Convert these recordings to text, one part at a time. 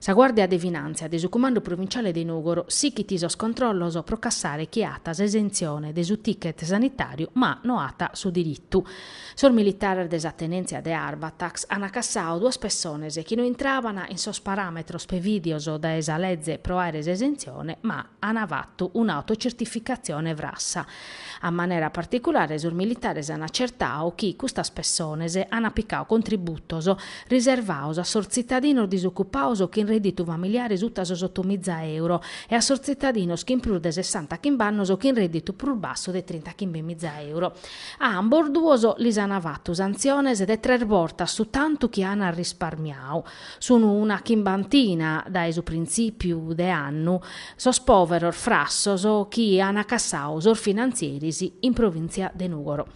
Sa Guàrdia de Finàntzia de su Cumandu Provinciale de Nùgoro sighit sos controllos pro cassare chie at s'esentzione de su ticket sanitàriu ma no at su diritu. Sos militares de sa tenèntzia de Arbatax ant cassadu duas pessones chi no intrabant in sos paràmetros prevìdios dae sa leze pro àere s'esentzione ma ant fatu un'autocertificatzione frassa A manera particulare sos militares an acertadu chi custas pessones an apicadu contributos riservados a sos tzitadinos disocupados chin redditu familiare sutta sos otomiza euro e a sos tzitadinos chin prus de sessanta chimb'annos chin redditu prus bassu de trinta chimbemiza euro. A ambos duos lis an fatu santziones de tres bortas su tantu chi an risparmiadu. Sunu una chimbantina dae su printzìpiu de annu sos pòveros frassos chi an cassadu sos finantzieris in provìntzia de Nùgoro.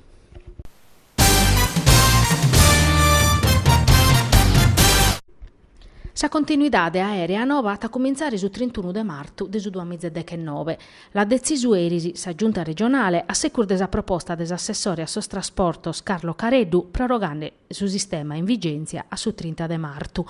Sa continuidade aèrea nova at a cumintzare su trintunu de martu de su duamiza e dechenobe. L'at detzisu eris sa Giunta regionale a segus de sa proposta de s'assessore a sos trasportos Carlo Careddu prorogande su sistema in vigèntzia a su trinta de martu.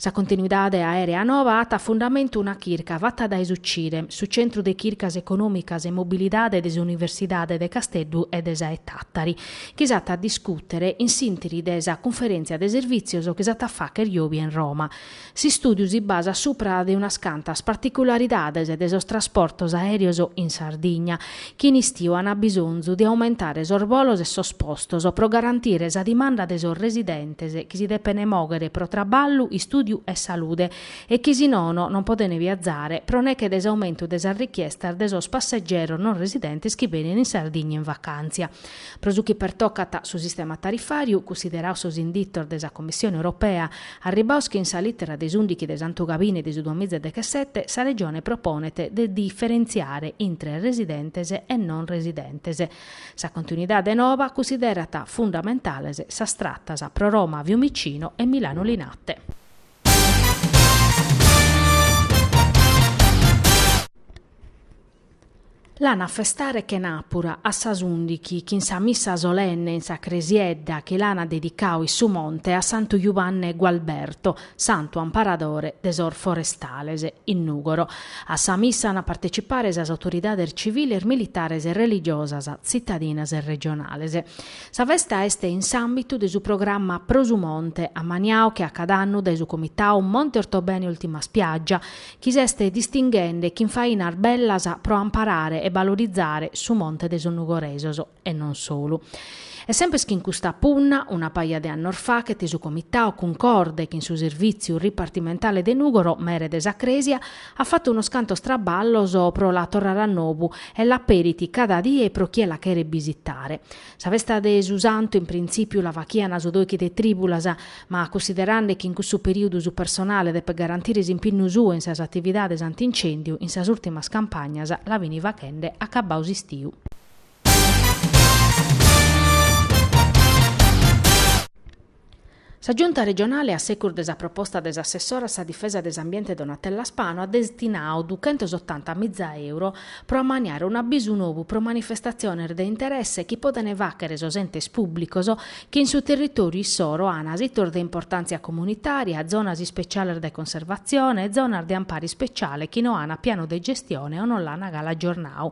Sa continuidade aèrea nova at fundamentu una chirca fata dae su CIREM, su Centru de Chircas Econòmicas e Mobilidade de s'Universidade de Casteddu e de sa 'e Tàtari, chi s'at a discùtere in s'ìntiri de sa cunferèntzia de servìtzios chi s'at a fàghere jòbia in Roma. S'istùdiu si basat supra de unas cantas particularidades de sos trasportos aèreos in Sardigna, chi in istiu ant bisonzu de aumentare sos bolos e sos postos pro garantire sa dimanda de sos residentes chi si depene mòghere pro traballu, istùdiu e salude e chi si nono non podene viazare pro neche de s'aumentu de sas richiestas de sos passegeros non residentes chi benen in Sardigna in vacàntzia. Pro su chi pertocat su sistema tarifàriu, cunsiderados sos inditos de sa Commissione Europea, arribados chin sa lìtera de s'ùndichi de santugabini de su duamiza e dechesete sa Regione proponet de diferentziare intre residentes e non residentes. Sa continuidade noba cunsiderat fundamentales sas tratas pro Roma Fiumicino e Milano Linate. L'an a festare chenàpura a sas ùndighi chin sa missa solenne in sa cresiedda chi l'an dedicadu in su monte a Santu Jubanne Gualberto, santu amparadore de sos forestales, in Nùgoro. A sa missa an a partecipare sas autoridades civiles, militares e religiosas tzitadinas e regionales. Sa festa est in s'àmbitu de su programma Pro su Monte ammaniadu che a cada annu dae su comitadu Monte Ortobene Ultima Spiaggia chi s'est distinghende chin fainas bellas pro amparare e balorizare su monte de sos Nugoresos, e non solu. E sempes chin custa punna, una paja de annos faghet su Comitau, cuncorde chin su Servìtziu Ripartimentale de Nùgoro, Mere de sa Crèsia, at fatu unos cantos traballos pro la torrare a nobu e l'aperit cada die pro chie la cheret bisitare. Sa festa de su Santu in printzìpiu la faghiant su doichi de trìbulas, ma cussiderande chi in cussu perìudu su personale depet garantire s'impinnu suu in sas atividades anti-incèndiu, in sas ùrtimas campagnas la fint faghende acabbadu s'istiu. Sa Giunta regionale a segus de sa proposta de s'assessora a sa difesa de s'ambiente Donatella Spano at destinadu duchentos otanta miza euro pro ammaniare un'abbisu nou pro manifestatziones de interesse chi podent fàghere sos entes pùblicos chi in su territòriu issoro an sitos de importàntzia comunitària, zonas ispetziales de conservatzione e zonas de ampare ispetziale chi no an pianu de gestione o no l'an galu agiornadu.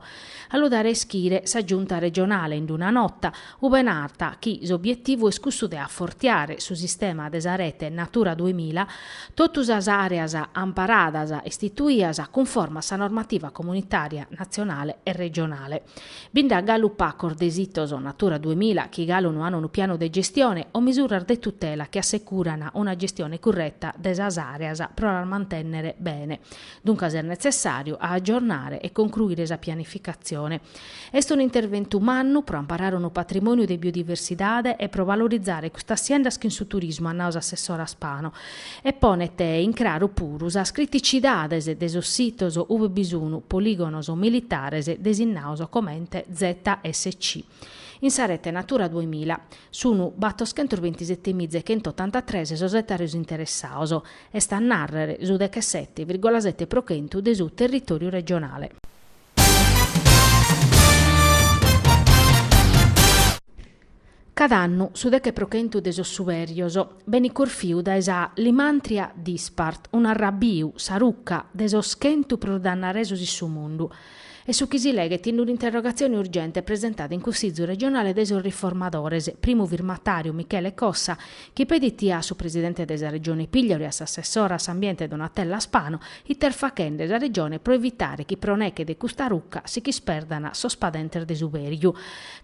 A lu dare a ischire sa Giunta regionale in una nota, Ube narat chi s'obietivu est cussu de afortiare su sistema de sa rete Natura duemila, totu sas areas amparadas istituias cunforma a sa normativa comunitaria, natzionale e regionale. Bi nd'at galu pacos de sitos Natura duemila chi galu no an unu pianu de gestione o misuras de tutela chi assecuran una gestione curreta de sas areas pro las mantennere bene. Duncas est netzessàriu a agiornare e concruire sa pianificatzione Est unu interventu mannu pro amparare unu patrimòniu de biodiversidade e pro valorizare custas siendas chin su turismu, at nau s'assessora Spano, e ponet in craru puru sas criticidades de sos sitos ue bi sun polìgonos militares designados comente ZSC. In sa rete Natura duemila sun batoschentos bintisetemiza chentottantatres sos ètaros interessados, est a nàrrere su dechesete virgola sete pro chentu de su territòriu regionale. Cada annu su deche pro chentu de sos suberios benit corfiu dae sa Lymantria dispart, un'arrabbiu, sa ruca, de sos chentu prus dannaresos in su mundu. Est su chi si leghet in un'interrogatzione urgente presentada in Cussizu regionale de sos Riformadores, primu firmatàriu Michele Cossa, chi pedit a su presidente de sa Regione Pigliaru e a s'assessora a s'ambiente Donatella Spano, ite est faghende sa Regione pro evitare chi pro neche de custa ruca si ch'isperdan sos padentes de suberiu.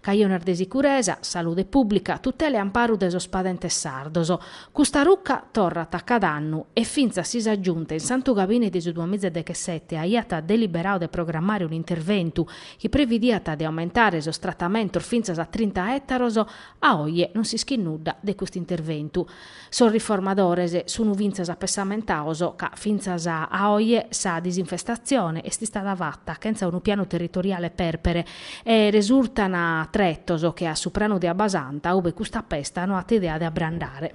Cajones de sicuresa, salude pùblica, tutela e amparu de sos padentes sardos. Custa ruca torrat cada annu e fintzas si sa Giunta in Santu Gabini de su duamiza e dechesete aiat deliberadu de programmare un'interventu chi previdiat de aumentare sos tratamentos fintzas a trinta ètaros A oie non s'ischit nudda de custu interventu. Sos riformadores sun fintzas apessamentados ca fintzas a oie sa disinfestatzione est istada fata chentza unu pianu territoriale pèrpere e resurtan tretos che a su pranu de Abbasanta ube custa pesta no at idea de abrandare.